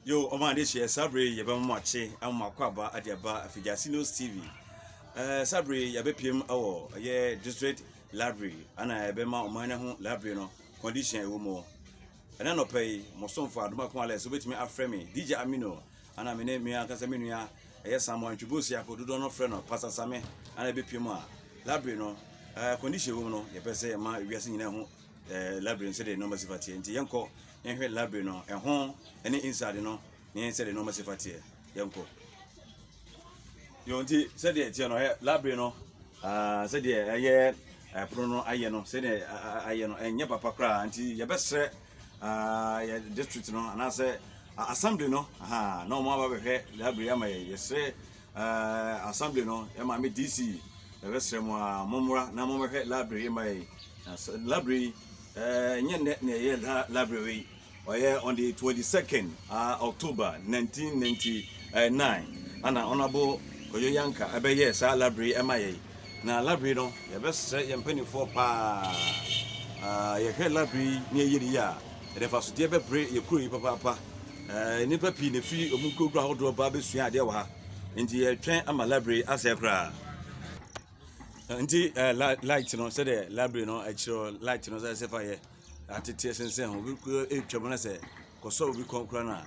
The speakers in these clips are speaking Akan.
Yo, ɔma adehyeɛ, saa bere yi yɛbɛma mo akye ama mo akɔ aba ade aba Afigyase News TV. Eh, saa bere yi yɛbɛpiem wɔ ɛyɛ District Library ana yɛbɛma ɔman no ho library no condition a ɛwɔ mu. Ɛna nɔpɛ yi, mo somfo Adoma Kumale so bɛtumi afrɛ me DJ Amino ana me ne me ankasa me nua ɛyɛ Samuel Ntwebosi ako dodoɔ no frɛ no Pastor Same ana yɛbɛpiem a library no eh, condition ɛwɔ mu no yɛpɛ sɛ yɛma wiase nyinaa ho eh, library no sɛdeɛ nneɛma si fa teɛ nti yɛnkɔ nhwɛ library no ɛho ɛne inside no ne yɛn sɛdeɛ nneɛma si fa teɛ yɛnkɔ yɛn nti sɛdeɛ teɛ no ɛ library no ah, sɛdeɛ ɛyɛ ɛpono no ayɛ no sɛdeɛ ayɛ no ɛnyɛ papa koraa nti yɛbɛsrɛ ah, yɛ district no anaasɛ assembly no na wɔn aba bɛhwɛ library ama yɛ yɛsrɛ Eh, assembly no, eh, maame DC, yɛbɛsrɛ mo a mommra na mommɛhwɛ library ma yɛn. Na sɛ- library yi, eh, nyɛ nnɛ na ɛyɛ la- library yi. Ɔyɛ on the 22nd ah, October 1999 ana Honorable Kojo Yanka ɛbɛyɛɛ saa library yi ma yɛn. Na library no, yɛbɛsrɛ yɛn mpanimfoɔ paa, ah, yɛhwɛ library yi na yɛyɛ no yie a, Ɛde mfasodeɛ bɛbrɛ yɛn kuro yi papaapa. Ɛɛ nnipa pii na efi wɔn nkurokuo ahodoɔ ba abɛsua adeɛ wɔ ha. Nti yɛtwɛn ama library yi asɛe koraa. Nti ɛɛ la light no sɛdeɛ library no ɛkyerɛ light no sɛ ɛsɛ fa yɛ atete sensɛn ho. Obi kura etwam na sɛ kɔsɔ obi kɔn koraa no a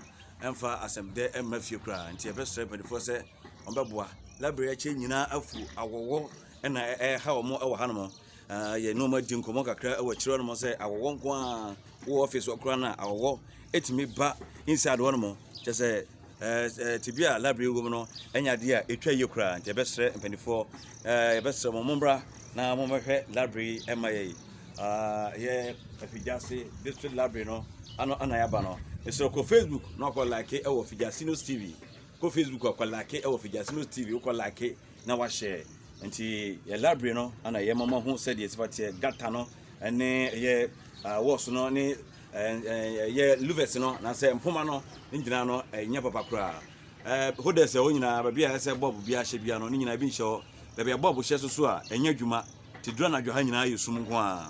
ɛmfa asɛmdɛ ɛmma fie koraa. Nti yɛbɛsrɛ mpanimfoɔ sɛ wɔbɛboa. Library yi akyɛ nyinaa afu awɔwɔ ɛna ɛha wɔn wɔ hanom. Ah, yɛne wɔn adi nkɔmmɔ kakra wɔ akyire hɔ nom sɛ awɔwɔ nko a wowɔ office hɔ koraa no a awɔwɔ ɛtumi ba inside hɔ nom kyɛ sɛ tibi a library wɔ mu no ɛnyɛ adeɛ a ɛtwa yie koraa nti yɛbɛsrɛ mpanimfoɔ yɛbɛsrɛ mo mommra na mommɛhwɛ library ɛma yɛi yɛ afigyase district library no ano ana yɛaba no ɛsrɛ kɔ facebook na ɔkɔ like ɛwɔ figyase news tv kɔ facebook ɔkɔ like ɛwɔ figyase news tv wokɔ like na wahyɛ nti yɛ library no ana yɛ mama ho sɛ deɛ sifa teɛ gata no ne yɛ wɔɔso no ne yɛ luvers no na sɛ mpoma no ne nyinaa no ɛnyɛ papa koraa ɛho dɛ sɛ hɔ nyinaa baabi a ɛsɛ bɔb bi ahyɛ bia no ne nyinaa bi nhyɛ hɔ baabi a bɔb hyɛ so so a ɛnyɛ adwuma te dura anadwo ha nyinaa yɛ sum nko a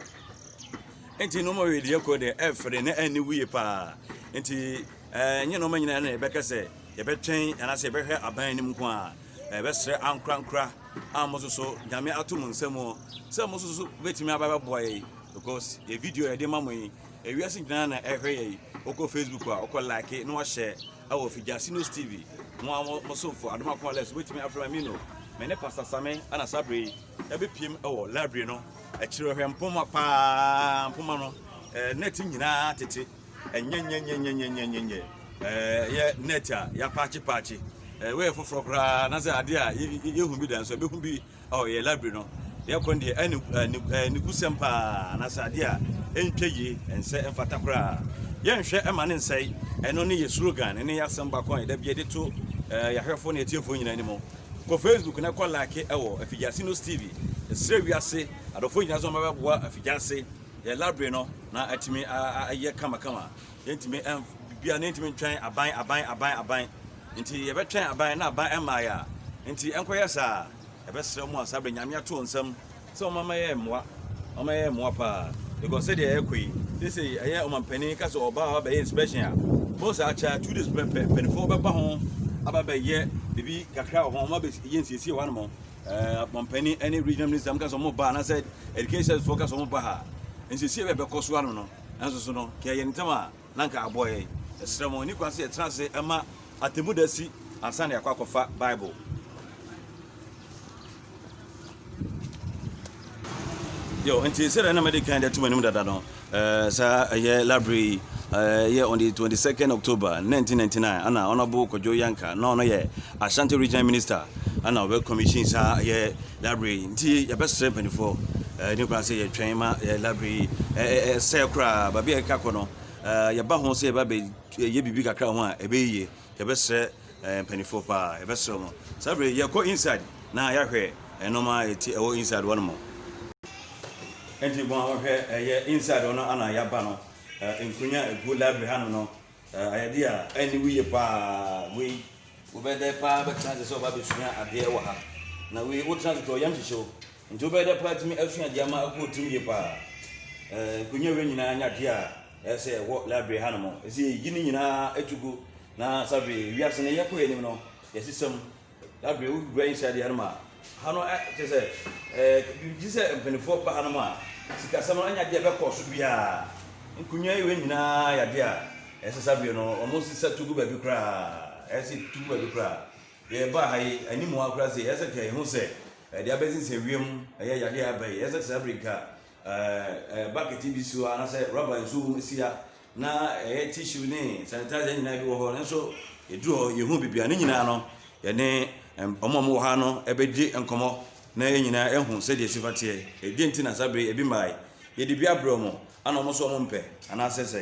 nti nneɛma wei deɛ kɔ deɛ ɛfere na ɛne wuye paa nti ɛnyɛ nneɛma nyinaa na yɛbɛka sɛ yɛbɛtwɛn anaasɛ yɛbɛhwɛ aban anim nko a yɛbɛsrɛ ankorankora a mo soso Nyame ato mo nsa mu sɛ mo soso betumi aba bɛboa yɛ because yɛ video yɛde ma mo yi ewiase nyinaa na ɛhwɛ yɛ yi wokɔ Facebook a wokɔ like na wahyɛ ɛwɔ Figyase News TV mo a mo somfo adoma kɔn lɛs betumi afrɛ ma mino me ne Pastor Same ana saa bere yi ɛbɛpiem ɛwɔ library no akyiri hwɛ mpoma paa mpoma no net nyinaa tete ɛnyɛnyɛnyɛnyɛnyɛnyɛnyɛnyɛ ɛɛ yɛ net a yɛapaakye paakye ɛɛ wɔyɛ foforɔ koraa na sɛ adeɛ a yɛhu bi da nso ɛbɛhu bi ɔ yɛ library no yɛkɔ no deɛ ɛne ne kusɛm paa na sɛ adeɛ a ɛntwa yie ɛnsɛ ɛmfata koraa yɛnhwɛ ɛma ne nsɛe ɛno ne yɛ slogan ne yɛ asɛm bakɔ a yɛda bi yɛde to ɛɛ yɛahwɛfoɔ ne yɛtiefoɔ nyinaa anim kɔ facebook na kɔ like ɛwɔ afigyase no steve ɛsrɛ wiase adɔfoɔ nyinaa sɛ ɔmabɛboa afigyase Yɛn labre no na atumi ayɛ kamakama. Yɛntumi ɛnf biribiara na yɛntumi ntwɛn aban aban aban aban. Nti yɛbɛtwɛn aban na aban ɛmmaa yɛ a. Nti ɛnkɔyɛ saa. Yɛbɛsrɛ mu a saa bere nyame ato nsam sɛ wɔn ama yɛ mmoa. Wɔn ama yɛ mmoa paa. Because sɛdeɛ ɛrekɔ yi sese ɛyɛ ɔmampanin ka sɛ ɔbaa aba bɛyɛ inspection a bɔn saa kyɛ two days pɛ mpanimfoɔ bɛba ho aba bɛyɛ biribi kakra wɔ ho wɔn abɛyɛ nsiesie hɔ anamɔ Eh, apɔmpani ne regional minister mo ka sɛ ɔmo ba anaasɛ education foɔ ka sɛ ɔmo ba ha nsiesie bɛ bɛkɔ so ano no nanso so no kɛ yɛ ntɛm a na nka aboɔ yɛ ɛsrɛ mo ne kwan sɛ yɛtena ase ɛma atemu da si ansa na yɛakɔ akɔfa bible yo nti sɛdeɛ na mɛde kan de atum anim dada no Ɛɛ saa ɛyɛ labre yi ɛɛ yɛ on the twenty second October nineteen ninety nine ɛna ɔnabɔ Kwadwo Yanka na ɔno yɛ Ashanti Regional Minister ɛna ɔbɛ commission saa ɛyɛ labre yi nti yɛbɛsrɛ mpanyinfoɔ ɛɛ ne kura sɛ yɛtwɛn ma ɛyɛ labre yi ɛɛ ɛsɛ koraa baabi a ɛka kɔ no ɛɛ yɛba ho sɛ yɛba bɛ yɛ biribi kakra ho a ɛbɛyɛ yie yɛbɛsrɛ. Mpanyinfoɔ paa yɛbɛsrɛ mo saa berɛ yi yɛkɔ inside na yɛahwɛ nnoɔma a ɛti ɛwɔ inside hɔ nom. Nti mo a mohwɛ ɛyɛ inside hɔ no ana yɛaba no nkonya a ɛgu library ha nom no ayɛ adeɛ a ɛne wo yie paa wei wobɛyɛ dɛ paa bɛtena ase sɛ woba bɛsua adeɛ wɔ ha na wei wotena ase tɔ yam hyehyɛ wo nti wobɛyɛ dɛ paa tumi asua adeɛ ama ɛkɔ wo tirim yie paa nkonya wei nyinaa nyɛ adeɛ a Ɛyɛ sɛ ɛwɔ library hanom. Ɛsɛ yɛyi ne nyinaa to gu na sabe wiase no yɛkɔ yɛn anim no yɛsesa mu. Library wowura inside hanom a ha no kyerɛ sɛ ɛɛ gye sɛ mpanimfoɔ ba hanom a sikasɛm no anya adeɛ ɛbɛkɔ so biara. Nkonnwa yi wei nyinaa yɛ adeɛ a ɛyɛ sɛ sabe no wɔn sisa to gu baabi koraa. Ɛyɛ sɛ to gu baabi koraa. Yɛba ha yi anim ha koraa sɛ ɛyɛ sɛ kɛ ɛho sɛ ɛde abɛsensɛn wiem ɛyɛ yadeɛ aba yi ɛyɛ sɛ sabe nka Bakɛte bi si hɔ anaasɛ rɔba nsuo wɔ mu si a na ɛyɛ tissue ne sanitizer nyinaa bi wɔ hɔ nanso ɛduru hɔ yɛhu biribi a ne nyinaa no yɛne wɔn a wɔwɔ ha no ɛbɛdi nkɔmmɔ na yɛn nyinaa ɛhu sɛdeɛ ɛsi fa teɛ ɛdeɛ nti na saa bere ebi mmaa yi yɛde bi abrɛ wɔn ana wɔn nso wɔn mpɛ anaasɛ sɛ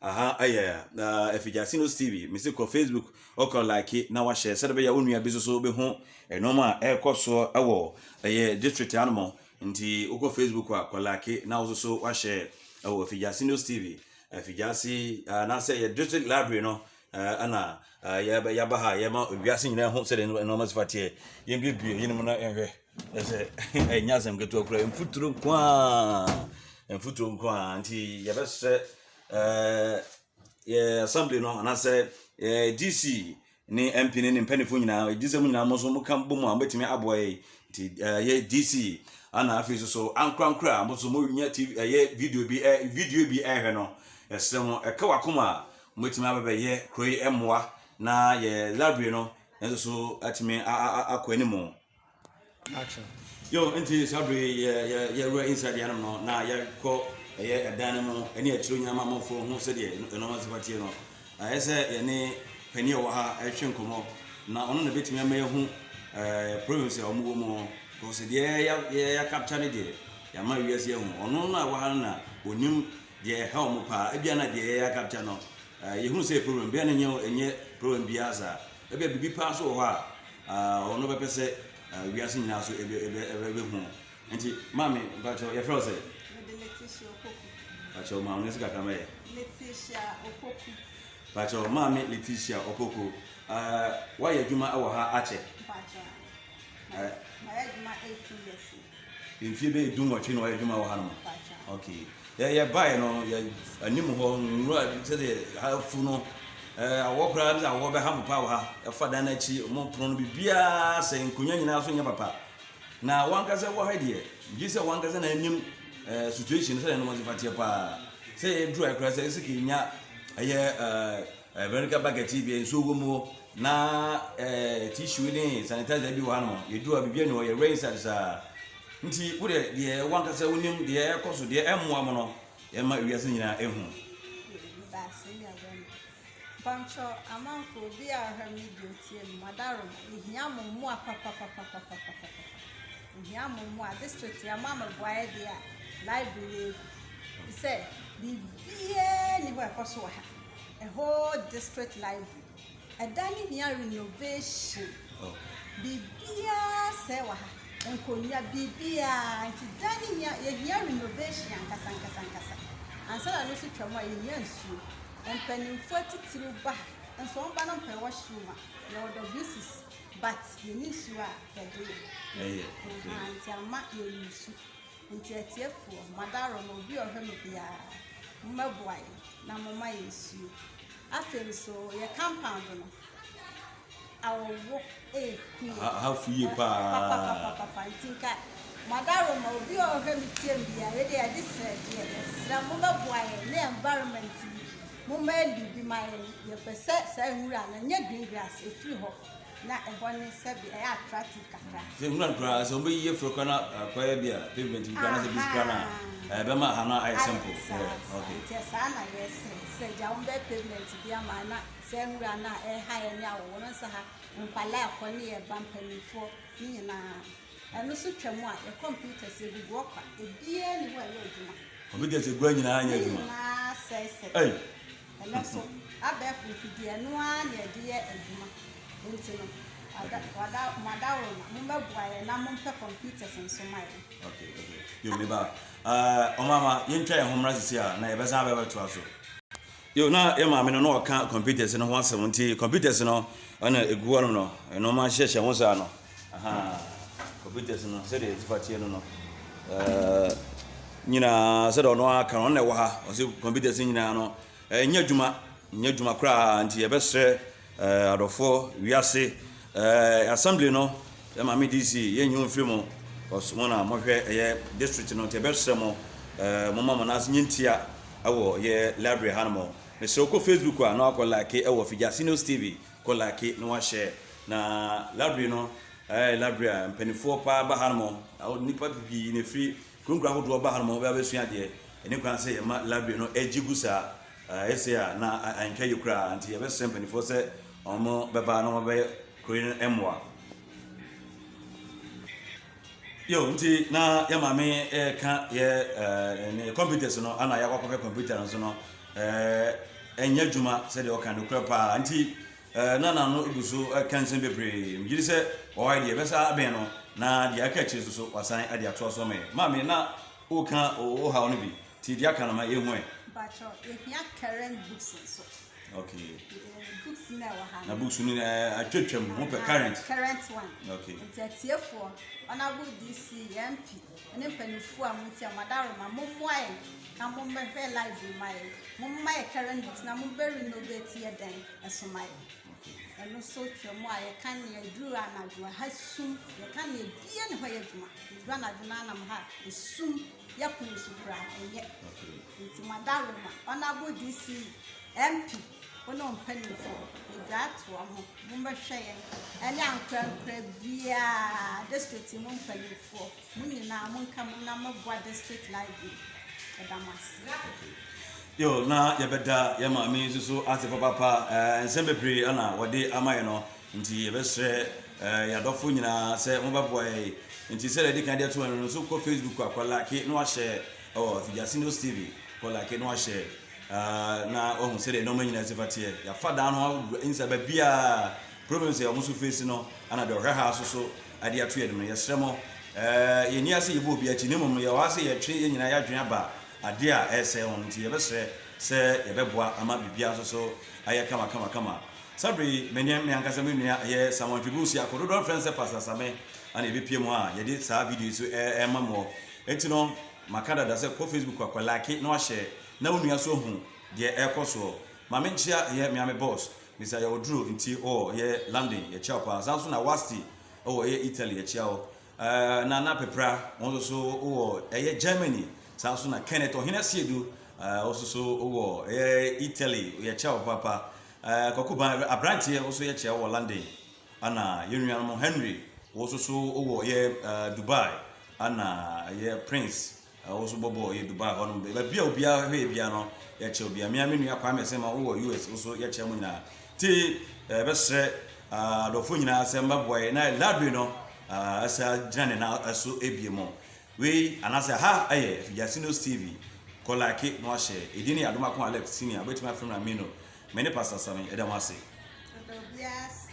Aha ayɛ na ɛfiri Gyasino TV. Mese kɔ Facebook, ɔkɔ like na wahyɛ sɛdeɛ bɛyɛ wo nua bi soso bɛhu nneɛma a ɛrekɔ soɔ ɛwɔ ɛyɛ district anom. Nti wokɔ Facebook a kɔ like na wo soso wahyɛ ɛwɔ ɛfiri Gyasino TV. Ɛfiri Gyasi anaasɛ ɛyɛ district library no Eh, ɛna eh, yɛbɛ- yɛaba ha a yɛma wiase nyinaa hu sɛdeɛ nne- nneɛma si fa teɛ yɛmbiebie yinom na yɛnhwɛ ɛ sɛ ɛnyɛ asɛm ketewa kura mfuturo nko a mfuturo nko a nti yɛbɛsrɛ eh, yɛ assembly no anaasɛ eh, dc ne mp ne ne mpanimfoɔ nyinaa ɛdi sɛ mu nyinaa mo nso moka bɔ mu a mobɛtumi aboa yɛ nti eh, yɛ dc ana afei nso so ankorankora a mo nso monya tv ɛyɛ video bi eh, video bi ɛhwɛ no yɛsrɛ mo ɛka wakoma a Mobɛtumi aba bɛyɛ kuro yi mmoa na yɛ library no nso so atumi akɔ anim. Action. Yo, nti saa bere yɛ yɛ yɛwura inside yɛn no na yɛkɔ ɛyɛ ɛdan no mu ɛne akyire nyama amanfoɔ ho sɛdeɛ ɛnɔma nso bateɛ no ɛyɛ sɛ yɛne panin a ɔwɔ ha ɛhwɛ nkɔmɔ na ɔno na bɛtumi ama yɛhu ɛɛ problems a wɔn wɔ mu kɔsi deɛ yɛ yɛ yɛ capture ne deɛ yɛama wiase ɛho ɔno na ɛwɔ ha no na onim Deɛ ɛha wɔn paa, ebia na deɛ yɛyɛ akapkya no, yɛhunu sɛ ɛyɛ problem, bia na ɛnyɛ ɛnyɛ problem biara saa. Ebia biribi paa nso wɔ hɔ a ɔno bɛpɛ sɛ wiase nyinaa so ebe ebe ɛbɛhu. Nti maame, mpakyɛw, yɛfrɛ wo sɛ? Mede Letitia Opoku. Mpakyɛw ma wo nɛsi kakra mɛyɛ. Letitia Opoku. Mpakyɛw maame Letitia Opoku, uh, woayɛ adwuma wɔ ha akyɛ? Mpakyɛw, uh, mayɛ adwuma 18 years. Mfie bɛyɛ du nwɔtwe na ɔyɛ adwuma wɔ hanom. Okay. Yɛ yɛ bae no yɛ anim hɔ nwura sɛ de afu no ɛɛ awɔ koraa bi sɛ awɔ bɛha mo paa wɔ ha. Ɛfa dan no akyi mo pono no biribiara sɛ nkonnwa nyinaa so nyɛ papa. Na wankasa wɔ ha deɛ gye sɛ wankasa na anim ɛɛ situation sɛ ɛnom ɔsefa teɛ paa. Sɛ yɛ dry koraa sɛ ɛsɛ kɛ nya ɛyɛ ɛɛ. Eh, Veronica bucket yi bia nsuo wɔ mu o, na eh, tissue ne sanitizer bi wɔ ha nom, yɛduru a biribiara ni hɔ, yɛwerɛ inside saa. Nti wo deɛ deɛ wankasa wonim deɛ ɛkɔ so deɛ ɛmmoa mo no, yɛma ewiase nyinaa ehu. Pancho amanfo obi a ɔhwɛ media otie no madaro ehia mo mmoa papapapapapapa. Nhyiamu mu a, district yi ama me boayɛ deɛ a library yɛ egu te sɛ biribiara nni hɔ a ɛkɔ so wɔ ha, the whole district library. Ɛdan no hia renovation, biribiara sɛɛ wɔ ha, nkonnwa, biribiara. Nti dan no hia, yɛhia renovation ankasa ankasa ankasa. Ansa na ɛno nso twa mu a, yɛhia nsuo. Mpanimfoɔ atitiriw ba ha, nso wɔn ba no mpɛ washroom a, yɛwɔ WCC. But yɛ ne nsuo a yɛ de yɛ. Ɛyɛ pɛpɛ. Ahaa nti ama yɛ resu. Nti atiefoɔ, mo adaworo no obi a ɔhwɛ no biara mo mmɛboa yɛn na mo ma yɛ nsuo. Afei nso yɛ compound no awɔwo ɛɛku yɛn. Ahafu yie paa. Papapapapapa nti nka mo adaworo no obi a ɔhwɛ me tie me biara yɛ deɛ yɛde srɛ deɛ yɛ srɛ mo bɛboa yɛn ne environment no Momma ɛnde bi ma yɛn. Yɛpɛ sɛ saa nwura no nyɛ green grass, ɛfiri hɔ na ɛhɔ ne sɛbi ɛyɛ attractive kakra. Sɛ nwura no koraa, sɛ wɔbɛyi afiri koraa na akɔyɛ bi a pavement bi koraa na sɛ bi koraa na ɛbɛma ha no ayɛ simple. Ayɛ saa, yeah, saa. Okay. Nti saa na yɛsɛ sɛ gya wɔn bɛyɛ pavement bi ama na saa nwura no a ɛha yɛn ne awɔwɔ no nsa ha nkwadaa kɔ ne yɛn ba mpanimfoɔ ne nyinaa. Ɛno so twa mu a, yɛ computers, yɛ developer, obiara nni hɔ a ɛyɛ adwuma. Computers agua nyinaa nyɛ adwuma. Ne nyinaa sɛe sɛ. Ei. Ɛnɛ so, abɛɛfo mfidie, ɛno ara na yɛde yɛ adwuma. Nti no, wada, wada, mo adaworo no, mo bɛboa yɛn na mo mpɛ computers nso ma yɛn. Okay, okay. Yo, me ba. Uh, eh, omama, yɛntwa yɛn ho mmra sisi a, na yɛbɛsan abɛbɛtoa so. Yo, na yɛ maame no na ɔka computers no ho asɛm nti computers no ɛna egu hɔ nom no nnoɔma hyehyɛ ho saa no ahaa computers no sɛdeɛ ɛtifa teɛ no no ɛɛ nyinaa sɛdeɛ ɔno aka no ɔno na ɛwɔ ha ɔsi computers nyinaa no ɛnyɛ adwuma nyɛ adwuma koraa nti yɛbɛsrɛ Eh, adɔfoɔ, wiase eh, assembly no, yɛ maame DC, yɛ nyi mfiri mo, cause mo na mohwɛ ɛyɛ district no, nti ɛbɛsrɛ mo eh, mo ma mo nan ase nyɛ ntia ɛwɔ yɛ library ha no mo. Mesrɛ kɔ Facebook a na wakɔ like ɛwɔ Fijasinos TV, kɔ like na wahyɛ. Na library no, ɛyɛ library a mpanifoɔ paa ba ha no mo, nipa pipii na ɛfiri Nkurakura ahodoɔ ba hanom a wɔbɛba abɛsua adeɛ. Ɛne koraa sɛ yɛma library no gye gu saa. Ayɛ sei a na antwa yie koraa nti yɛbɛsrɛ mpanimfoɔ sɛ wɔbɛba na wɔabɛyɛ kuro yi no mmoa. Yo, nti na yɛ maame ɛreka yɛ ɛɛ computers no ana yɛakɔ akɔhwɛ computer no nso no ɛɛ ɛnyɛ adwuma sɛdeɛ ɔka no korɛ paa nti Ɛɛ, na n'ano gu so ka nsɛm bebree. Megye di sɛ wɔ ha yi deɛ ɛbɛsa abɛn no, na deɛ aka akyire nso so wasan de atoa so ama yɛn. Maame, na woreka wo haw no bi, nti deɛ aka no ma yɛnhu ɛ. Mpakyɛw, yɛhia current books nso. Okay. Eh, books na ɛwɔ ha. Na books no eh, atwatwam, ho pɛ current. Current one. Okay. Nti atiefoɔ, honorable DC, yɛn MP. ne mpanyinfoɔ a mo tia mo adaworoma mo mmoa yɛn na mo mmɛ hwɛ live yi ma yɛn mo mma yɛ current news na mo bɛ renovate yɛ dɛn ɛso ma yɛn ɛno so twɛ mo a yɛ ka ne yɛ duru anadwo ha sum yɛ ka ne yɛ bie ne hɔ yɛ adwuma yɛ duru anadwo na anam ha esum yɛ pono so kura ɛnyɛ nti mo adaworoma ɔnabo dc mp Wo ne wo mpanyimfo, migyaa toa ho, mommɛhwɛ yɛn, ɛne ankorankoro biara, district mu mpanyimfoɔ, mo nyinaa monka mmom na moboa district library. Yɛda mo ase. Yo, na yɛbɛda yɛn maame yi nso so ase papaapa. Ɛɛ, nsɛm bebree na wɔde ama yɛn no, nti yɛbɛsrɛ ɛɛ, yɛn adɔfo nyinaa sɛ wɔbɛboa yɛn. Nti sɛdeɛ yɛde kan de ato hɔ no, nso kɔ Facebook a, kɔ like na wahyɛ ɛwɔ Afigyase News TV, kɔ like na wahyɛ. na wahu sɛdeɛ nneɛma nyinaa si fa teɛ. Yɛafa dan no agu nsa baabiara. Problems a wɔn so face no, ana deɛ ɔhwɛ ha so so ade ato yɛn no, yɛsrɛ mo, eh, yɛnni ase yɛbɔ obi akyi, na mmom no yɛwɔ ha sɛ yɛtwe yɛn nyinaa yɛadwene aba adeɛ a ɛresɛe wɔn nti yɛbɛsrɛ sɛ yɛbɛboa ama biribiara nso so ayɛ kama kama kama. Saa bere yi, me ne me ankasa me nua ɛyɛ Samuel Ntwebu Siako, dodoɔ no frɛ no sɛ Pastor Same, ana yɛbɛpue mu a yɛde saa video yi so ɛrema moɔ. Enti no, Maka dada sɛ kɔ Facebook akɔ like na wahyɛ na wo nua so hu deɛ ɛkɔ soɔ. Ma me nkyea yɛ mea me boss Mr yɛwɔ duro nti ɔɔ yɛ London yɛkyea wo paa saa nso na Wasti ɔɔ yɛ Italy yɛkyea wo ɛɛ na na Pepra wo nso so ɔɔ ɛyɛ Germany saa nso na Kenneth Ɔhene Asiedu ɛɛ wo nso so ɔɔ ɛyɛ Italy yɛkyea wo papa ɛɛ Kwaku Ban abranteɛ wo nso yɛkyea wo wɔ London. Ana yɛn nuanom Henry wo so so wɔ yɛ Dubai ana yɛ Prince wo so bɔbɔ yɛ Dubai hɔ nom baabi a obiara hwɛ yɛ bia no yɛkyɛ obiara mmea me nua Kwame sɛ ma wɔ US wo so yɛkyɛ mo nyinaa te bɛsrɛ adɔfo nyinaa sɛ mbɛboa yɛ na library no ɛsɛ gyina ne na ɛso ebie mo wei anasɛ ha ɛyɛ Afigya Sinos TV kɔ like na wahyɛ edin ne Adom Ako Alex Senior wobɛtumi afrɛ me na me no Me ne Pastor Sami, yɛda mo ase. Yɛda obiara ase.